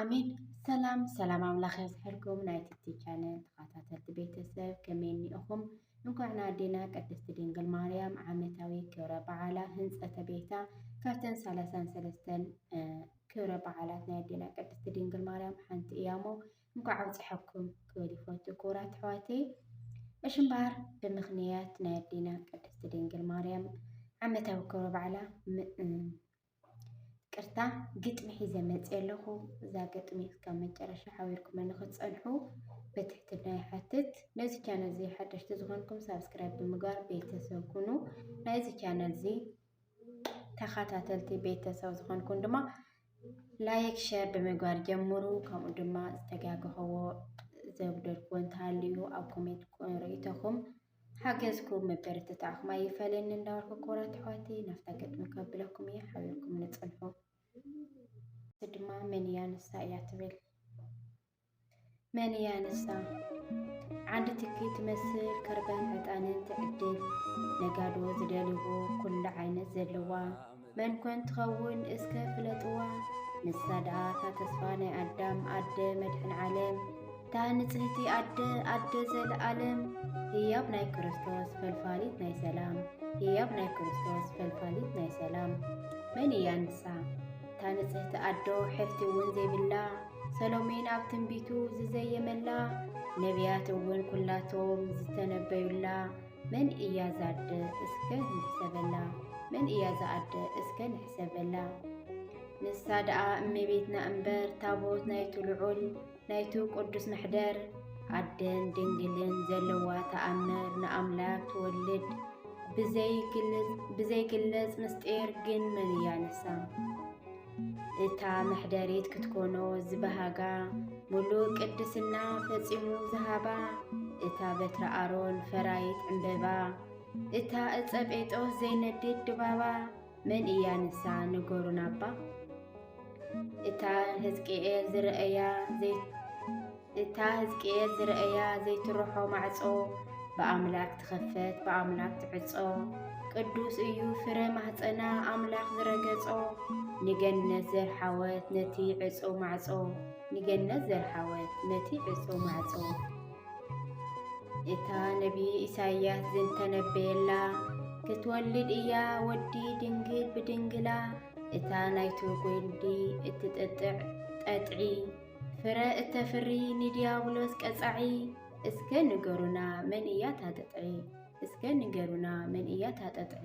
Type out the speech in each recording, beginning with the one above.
ኣሜን። ሰላም ሰላም ኣምላኽ የዝሕርኩም ናይ ትቲ ቻነል ተኸታተልቲ ቤተሰብ ከመይ እኒኢኹም? እንኳዕ ንኣዴና ቅድስቲ ድንግል ማርያም ዓመታዊ ክብረ በዓላ ህንፀተ ቤታ ካብተን ሰላሳን ሰለስተን ክብረ በዓላት ናይ ኣዴና ቅድስቲ ድንግል ማርያም ሓንቲ እያ እሞ እንኳዕ ኣብፀሐኩም ክብል ይፈቱ ክቡራት ኣሕዋተይ እሺ እምበኣር ብምኽንያት ናይ ኣዴና ቅድስቲ ድንግል ማርያም ዓመታዊ ክብረ በዓላ ቅርታ ግጥሚ ሒዘ መፅየ ኣለኹ እዛ ግጥሚ እስካብ መጨረሻ ሓቢርኩም ንክትፀንሑ በትሕትና ይሓትት ነዚ ቻነል እዚ ሓደሽቲ ዝኾንኩም ሳብስክራይብ ብምግባር ቤተሰብ ኩኑ ናይዚ ቻነል እዚ ተኸታተልቲ ቤተሰብ ዝኾንኩም ድማ ላይክ ሸር ብምግባር ጀምሩ። ከምኡ ድማ ዝተጋገኸዎ ዘጉደልክዎ እንተሃልዩ ኣብ ኮሜንት ርእይቶኹም ሓገዝኩም መበረትታዕኹም ኣይፈለኒ እንዳበልኩ ክቡራት ኣሕዋቲ ናብታ ገጥሚ ከብለኩም እየ ሓቢርኩም ንፅንሑ ድማ መን እያ ንሳ እያ ትብል መን እያ ንሳ? ዓንዲ ትኪ ትመስል ከርባን ዕጣንን ትዕድል ነጋዶ ዝደልይዎ ኩሉ ዓይነት ዘለዋ መን ኮን ትኸውን እስከ ፍለጥዋ ንሳ ደኣ እታ ተስፋ ናይ ኣዳም ኣደ መድሕን ዓለም እታ ንጽህቲ ኣደ ኣደ ዘለኣለም ህያብ ናይ ክርስቶስ ፈልፋሊት ናይ ሰላም ህያብ ናይ ክርስቶስ ፈልፋሊት ናይ ሰላም መን እያ ንሳ? እታ ንጽህቲ ኣዶ ሐፍቲ እውን ዘይብላ ሰሎሜን ኣብ ትንቢቱ ዝዘየመላ ነቢያት እውን ኩላቶም ዝተነበዩላ መን እያ ዛደ እስከ ንሕሰበላ መን እያ ዛኣደ እስከ ንሕሰበላ ንሳ ደኣ እመቤትና እምበር ታቦት ናይቱ ልዑል ናይቱ ቅዱስ መሕደር ኣደን ድንግልን ዘለዋ ተኣምር ንኣምላክ ትወልድ ብዘይግለጽ ምስጢር ግን መን እያ ንሳ እታ መሕደሪት ክትኮኖ ዝበሃጋ ሙሉእ ቅድስና ፈጺሙ ዝሃባ እታ በትረ ኣሮን ፈራይት ዕምበባ እታ እፀ ጴጦስ ዘይነድድ ድባባ መን እያ ንሳ ንገሩና እባ። እታ ህዝቅኤል ዝረእያ እታ ህዝቅኤል ዝረእያ ዘይትርሖ ማዕጾ ብኣምላኽ ትኸፈት ብኣምላኽ ትዕጾ ቅዱስ እዩ ፍረ ማህፀና ኣምላኽ ዝረገጾ ንገነት ዘርሓወት ነቲ ዕጾ ማዕጾ ንገነት ዘርሓወት ነቲ ዕጾ ማዕጾ እታ ነቢይ ኢሳይያስ ዝተነበየላ ክትወልድ እያ ወዲ ድንግል ብድንግላ እታ ናይቱ ጒንዲ እትጥጥዕ ጠጥዒ ፍረ እተፍሪ ንዲያብሎስ ቀጻዒ እስከ ንገሩና መን እያ ታጠጥዒ እስከ ንገሩና መን እያ ታጠጥዒ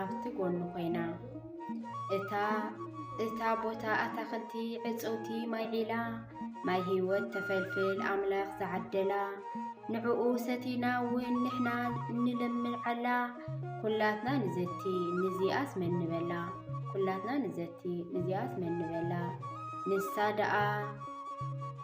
ኣብቲ ጎኑ ኮይና እታ እታ ቦታ ኣታኽልቲ ዕፀውቲ ማይ ዒላ ማይ ህይወት ተፈልፍል ኣምላኽ ዝዓደላ ንዕኡ ሰቲና እውን ንሕና እንለምዓላ ኩላትና ንዘቲ ንዚኣስ መን ንበላ ኩላትና ንዘቲ ንዚኣስ መን ንበላ ንሳ ደኣ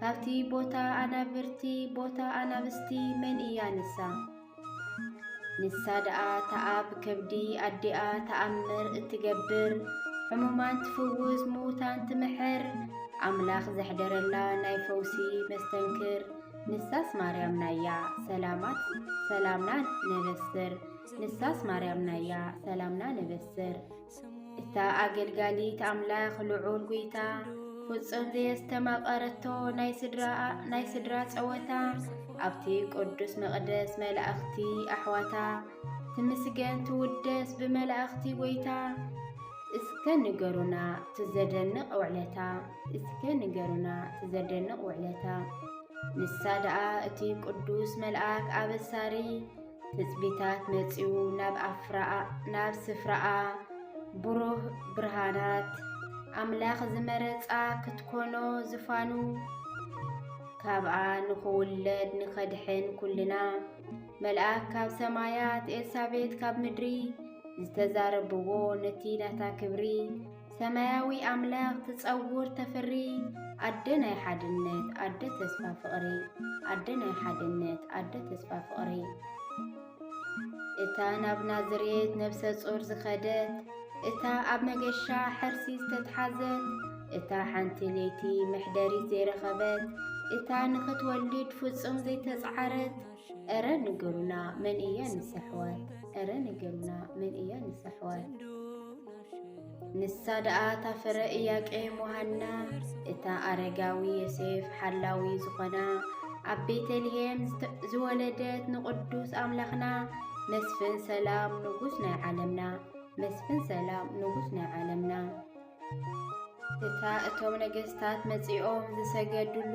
ካብቲ ቦታ ኣናብርቲ ቦታ ኣናብስቲ መን እያ ንሳ? ንሳ ደኣ ተኣብ ከብዲ ኣዲኣ ተኣምር እትገብር ሕሙማን ትፍውስ ምዉታን ትምሕር ኣምላኽ ዘሕደረላ ናይ ፈውሲ መስተንክር ንሳስ ማርያም ናያ ሰላማት ሰላምና ነበስር ንሳስ ማርያም ናያ ሰላምና ነበስር እታ ኣገልጋሊት ኣምላኽ ልዑል ጒይታ ፍጹም ዘየስተማቐረቶ ናይ ስድራ ጸወታ ኣብቲ ቅዱስ መቕደስ መላእኽቲ ኣሕዋታ ትምስገን ትውደስ ብመላእኽቲ ጐይታ እስከ ንገሩና ትዘደንቕ ውዕለታ እስከ ንገሩና ትዘደንቕ ውዕለታ ንሳ ደኣ እቲ ቅዱስ መልኣክ ኣበሳሪ ትጽቢታት መጺኡ ናብ ስፍራኣ ብሩህ ብርሃናት ኣምላኽ ዝመረጻ ክትኮኖ ዝፋኑ ካብኣ ንኽውለድ ንኸድሕን ኩልና መልኣክ ካብ ሰማያት ኤልሳቤት ካብ ምድሪ ዝተዛረብዎ ነቲ ናታ ክብሪ ሰማያዊ ኣምላኽ ትጸውር ተፍሪ ኣደ ናይ ሓድነት ኣደ ተስፋ ፍቕሪ ኣደ ናይ ሓድነት ኣደ ተስፋ ፍቕሪ እታ ናብ ናዝሬት ነብሰ ጾር ዝኸደት እታ ኣብ መገሻ ሕርሲ ዝተትሓዘት እታ ሓንቲ ለይቲ መሕደሪት ዘይረኸበት እታ ንኽትወልድ ፍጹም ዘይተጽዓረት እረ ንገሩና መን እያ ንሰሕወት እረ ንገሩና መን እያ ንሰሕወት ንሳ ደኣ ታፍረ እያቄ ሞሃና እታ ኣረጋዊ የሴፍ ሓላዊ ዝኾና ኣብ ቤተልሔም ዝወለደት ንቕዱስ ኣምላኽና መስፍን ሰላም ንጉስ ናይ ዓለምና መስፍን ሰላም ንጉስ ናይ ዓለምና እታ እቶም ነገስታት መጺኦም ዝሰገድሉ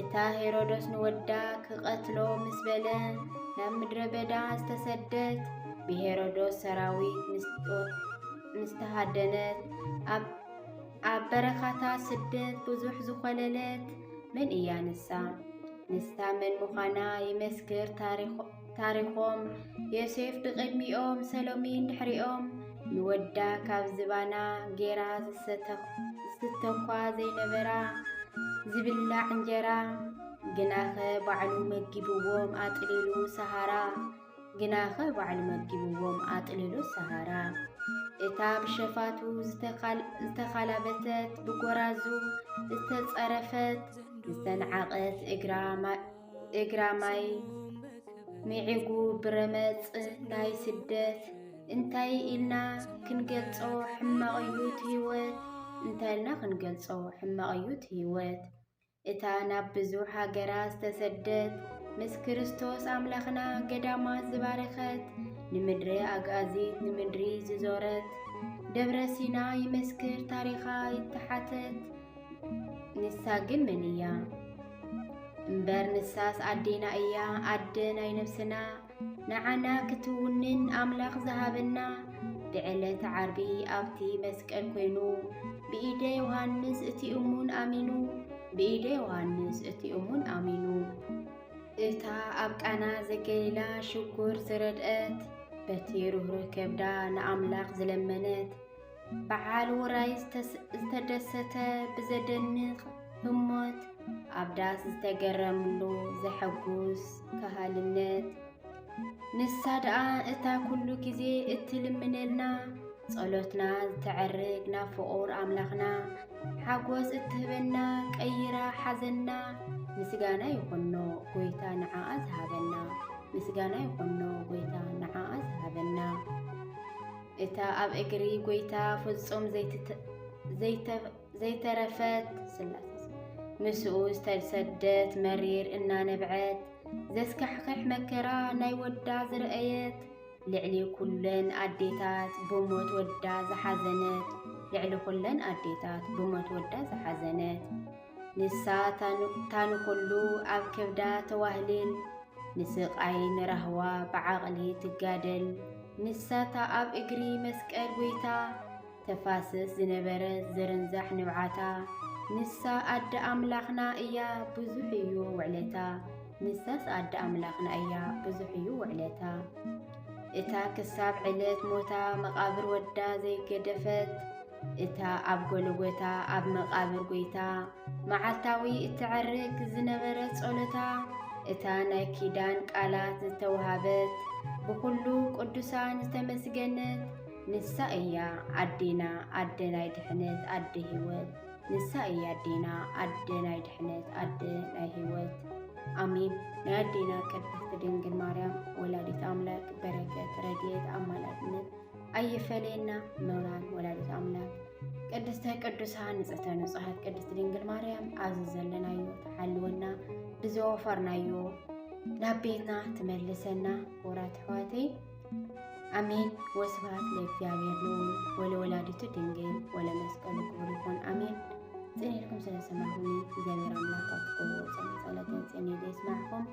እታ ሄሮዶስ ንወዳ ክቐትሎ ምስ በለ ናብ ምድረ በዳ ዝተሰደት ብሄሮዶስ ሰራዊት ምስተሃደነት ኣብ በረኻታ ስደት ብዙሕ ዝኾለለት መን እያ ንሳ? ንስታ መን ምዃና ይመስክር ታሪኾ ታሪኾም ዮሴፍ ብቕድሚኦም ሰሎሚን ድሕሪኦም ንወዳ ካብ ዝባና ጌራ ዝስተኳ ዘይነበራ ዝብላዕ እንጀራ ግናኸ ባዕሉ መጊብዎም ኣጥሊሉ ሰሃራ ግናኸ ባዕሉ መጊብዎም ኣጥሊሉ ሰሃራ እታ ብሸፋቱ ዝተኻላበተት ብጎራዙ ዝተጸረፈት ዝተንዓቐት እግራ እግራማይ ሚዒጉ ብረመፅ ናይ ስደት እንታይ ኢልና ክንገልፆ ሕማቕ እዩ እቲ ህይወት እንታይ ኢልና ክንገልፆ ሕማቕ እዩ እቲ ህይወት እታ ናብ ብዙሕ ሃገራት ዝተሰደት ምስ ክርስቶስ ኣምላኽና ገዳማት ዝባረኸት ንምድሪ ኣግኣዚት ንምድሪ ዝዞረት ደብረ ሲና ይመስክር ታሪኻ ይተሓተት ንሳ ግን መን እያ እምበር ንሳስ ኣዴና እያ ኣደ ናይ ነብስና ንዓና ክትውንን ኣምላኽ ዝሃበና ብዕለት ዓርቢ ኣብቲ መስቀል ኮይኑ ብኢደ ዮሃንስ እቲ እሙን ኣሚኑ ብኢደ ዮሃንስ እቲ እሙን ኣሚኑ እታ ኣብ ቃና ዘገሊላ ሽጉር ዝረድአት በቲ ርህሩህ ከብዳ ንኣምላኽ ዝለመነት በዓል ውራይ ዝተደሰተ ብዘደንቕ ህሞት ኣብ ዳስ ዝተገረምሉ ዘሐጉስ ከሃልነት ንሳ ደኣ እታ ኩሉ ግዜ እትልምነልና ጸሎትና ዝተዐርግ ናብ ፍቑር ኣምላኽና ሓጎስ እትህበና ቀይራ ሓዘና ምስጋና ይኹኖ ጎይታ ንዓኣ ዝሃበና ምስጋና ይኹኖ ጎይታ ንዓኣ ዝሃበና እታ ኣብ እግሪ ጐይታ ፍጹም ዘይተረፈት ስላስ ምስኡ ዝተሰደት መሪር እናነብዐት ዘስካሕክሕ መከራ ናይ ወዳ ዝረኣየት ልዕሊ ኩለን ኣዴታት ብሞት ወዳ ዝሓዘነት ልዕሊ ኩለን ኣዴታት ብሞት ወዳ ዝሓዘነት ንሳ ታንኹሉ ኣብ ከብዳ ተዋህልል ንስቃይ ንራህዋ ብዓቕሊ ትጋደል ንሳታ ኣብ እግሪ መስቀል ጎይታ ተፋስስ ዝነበረ ዝርንዛሕ ንብዓታ ንሳ ኣደ ኣምላኽና እያ ብዙሕ እዩ ውዕለታ ንሳስ ኣደ ኣምላኽና እያ ብዙሕ እዩ ውዕለታ እታ ክሳብ ዕለት ሞታ መቓብር ወዳ ዘይገደፈት እታ ኣብ ጎልጎታ ኣብ መቓብር ጐይታ መዓልታዊ እትዐርግ ዝነበረት ጸሎታ እታ ናይ ኪዳን ቃላት ዝተውሃበት ብዅሉ ቅዱሳን ዝተመስገነት ንሳ እያ ኣዴና ኣደ ናይ ድሕነት ኣደ ህይወት ንሳ እያ ኣዴና ኣደ ናይ ድሕነት ኣደ ናይ ህይወት ኣሜን። ናይ ኣዴና ቅድስት ድንግል ማርያም ወላዲት ኣምላክ በረከት ረድኤት ኣማላድነት ኣይፈለየና ኖራን ወላዲት ኣምላክ ቅድስተ ቅዱሳን ንጽሕተ ንጹሓት ቅድስት ድንግል ማርያም ኣብዚ ዘለናዮ ተሓልወና ብዘወፈርናዮ ናብ ቤትና ትመልሰና ወራት ኣሕዋተይ ኣሜን። ወስብሐት ለእግዚአብሔር ልዑል ወለወላዲቱ ድንግል ወለመስቀሉ ክቡር ይኹን ኣሜን። ጽኔልኩም ስለሰማዕኹኒ እግዚኣብሔር ኣምላክ ኣብ ትገብርዎ ጾም ጸሎትን ጽኔ የስማዕኩም።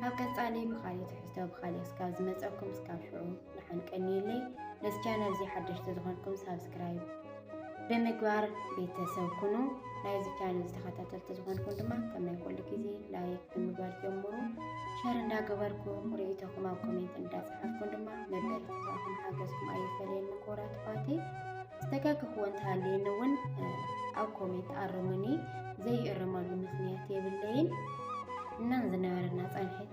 ኣብ ቀጻሊ ብኻልእ ትሕዝቶ ብኻልእ እስካብ ዝመጸኩም እስካብ ሽዑ ንዓን ቀንየለይ። ነዚ ቻነል እዚ ሓደሽቲ ዝኾንኩም ሳብስክራይብ ብምግባር ቤተሰብ ኩኑ። ናይዚ ቻነል ዝተኸታተልቲ ዝኾንኩም ድማ ከም ናይ ኩሉ ግዜ ላይክ ብምግባር ጀምሩ። ሸር እንዳገበርኩም ርእይቶኹም ኣብ ኮሜንት እንዳፅሓፍኩም ድማ መበረታታኹም ሓገዝኩም ኣይፈለየኒ ክቡራት ኣሕዋተይ። ዝተጋገኹዎ እንተሃልየኒ እውን ኣብ ኮሜንት ኣርሙኒ። ዘይእርመሉ ምክንያት የብለይን እና ዝነበረና ፀንሒት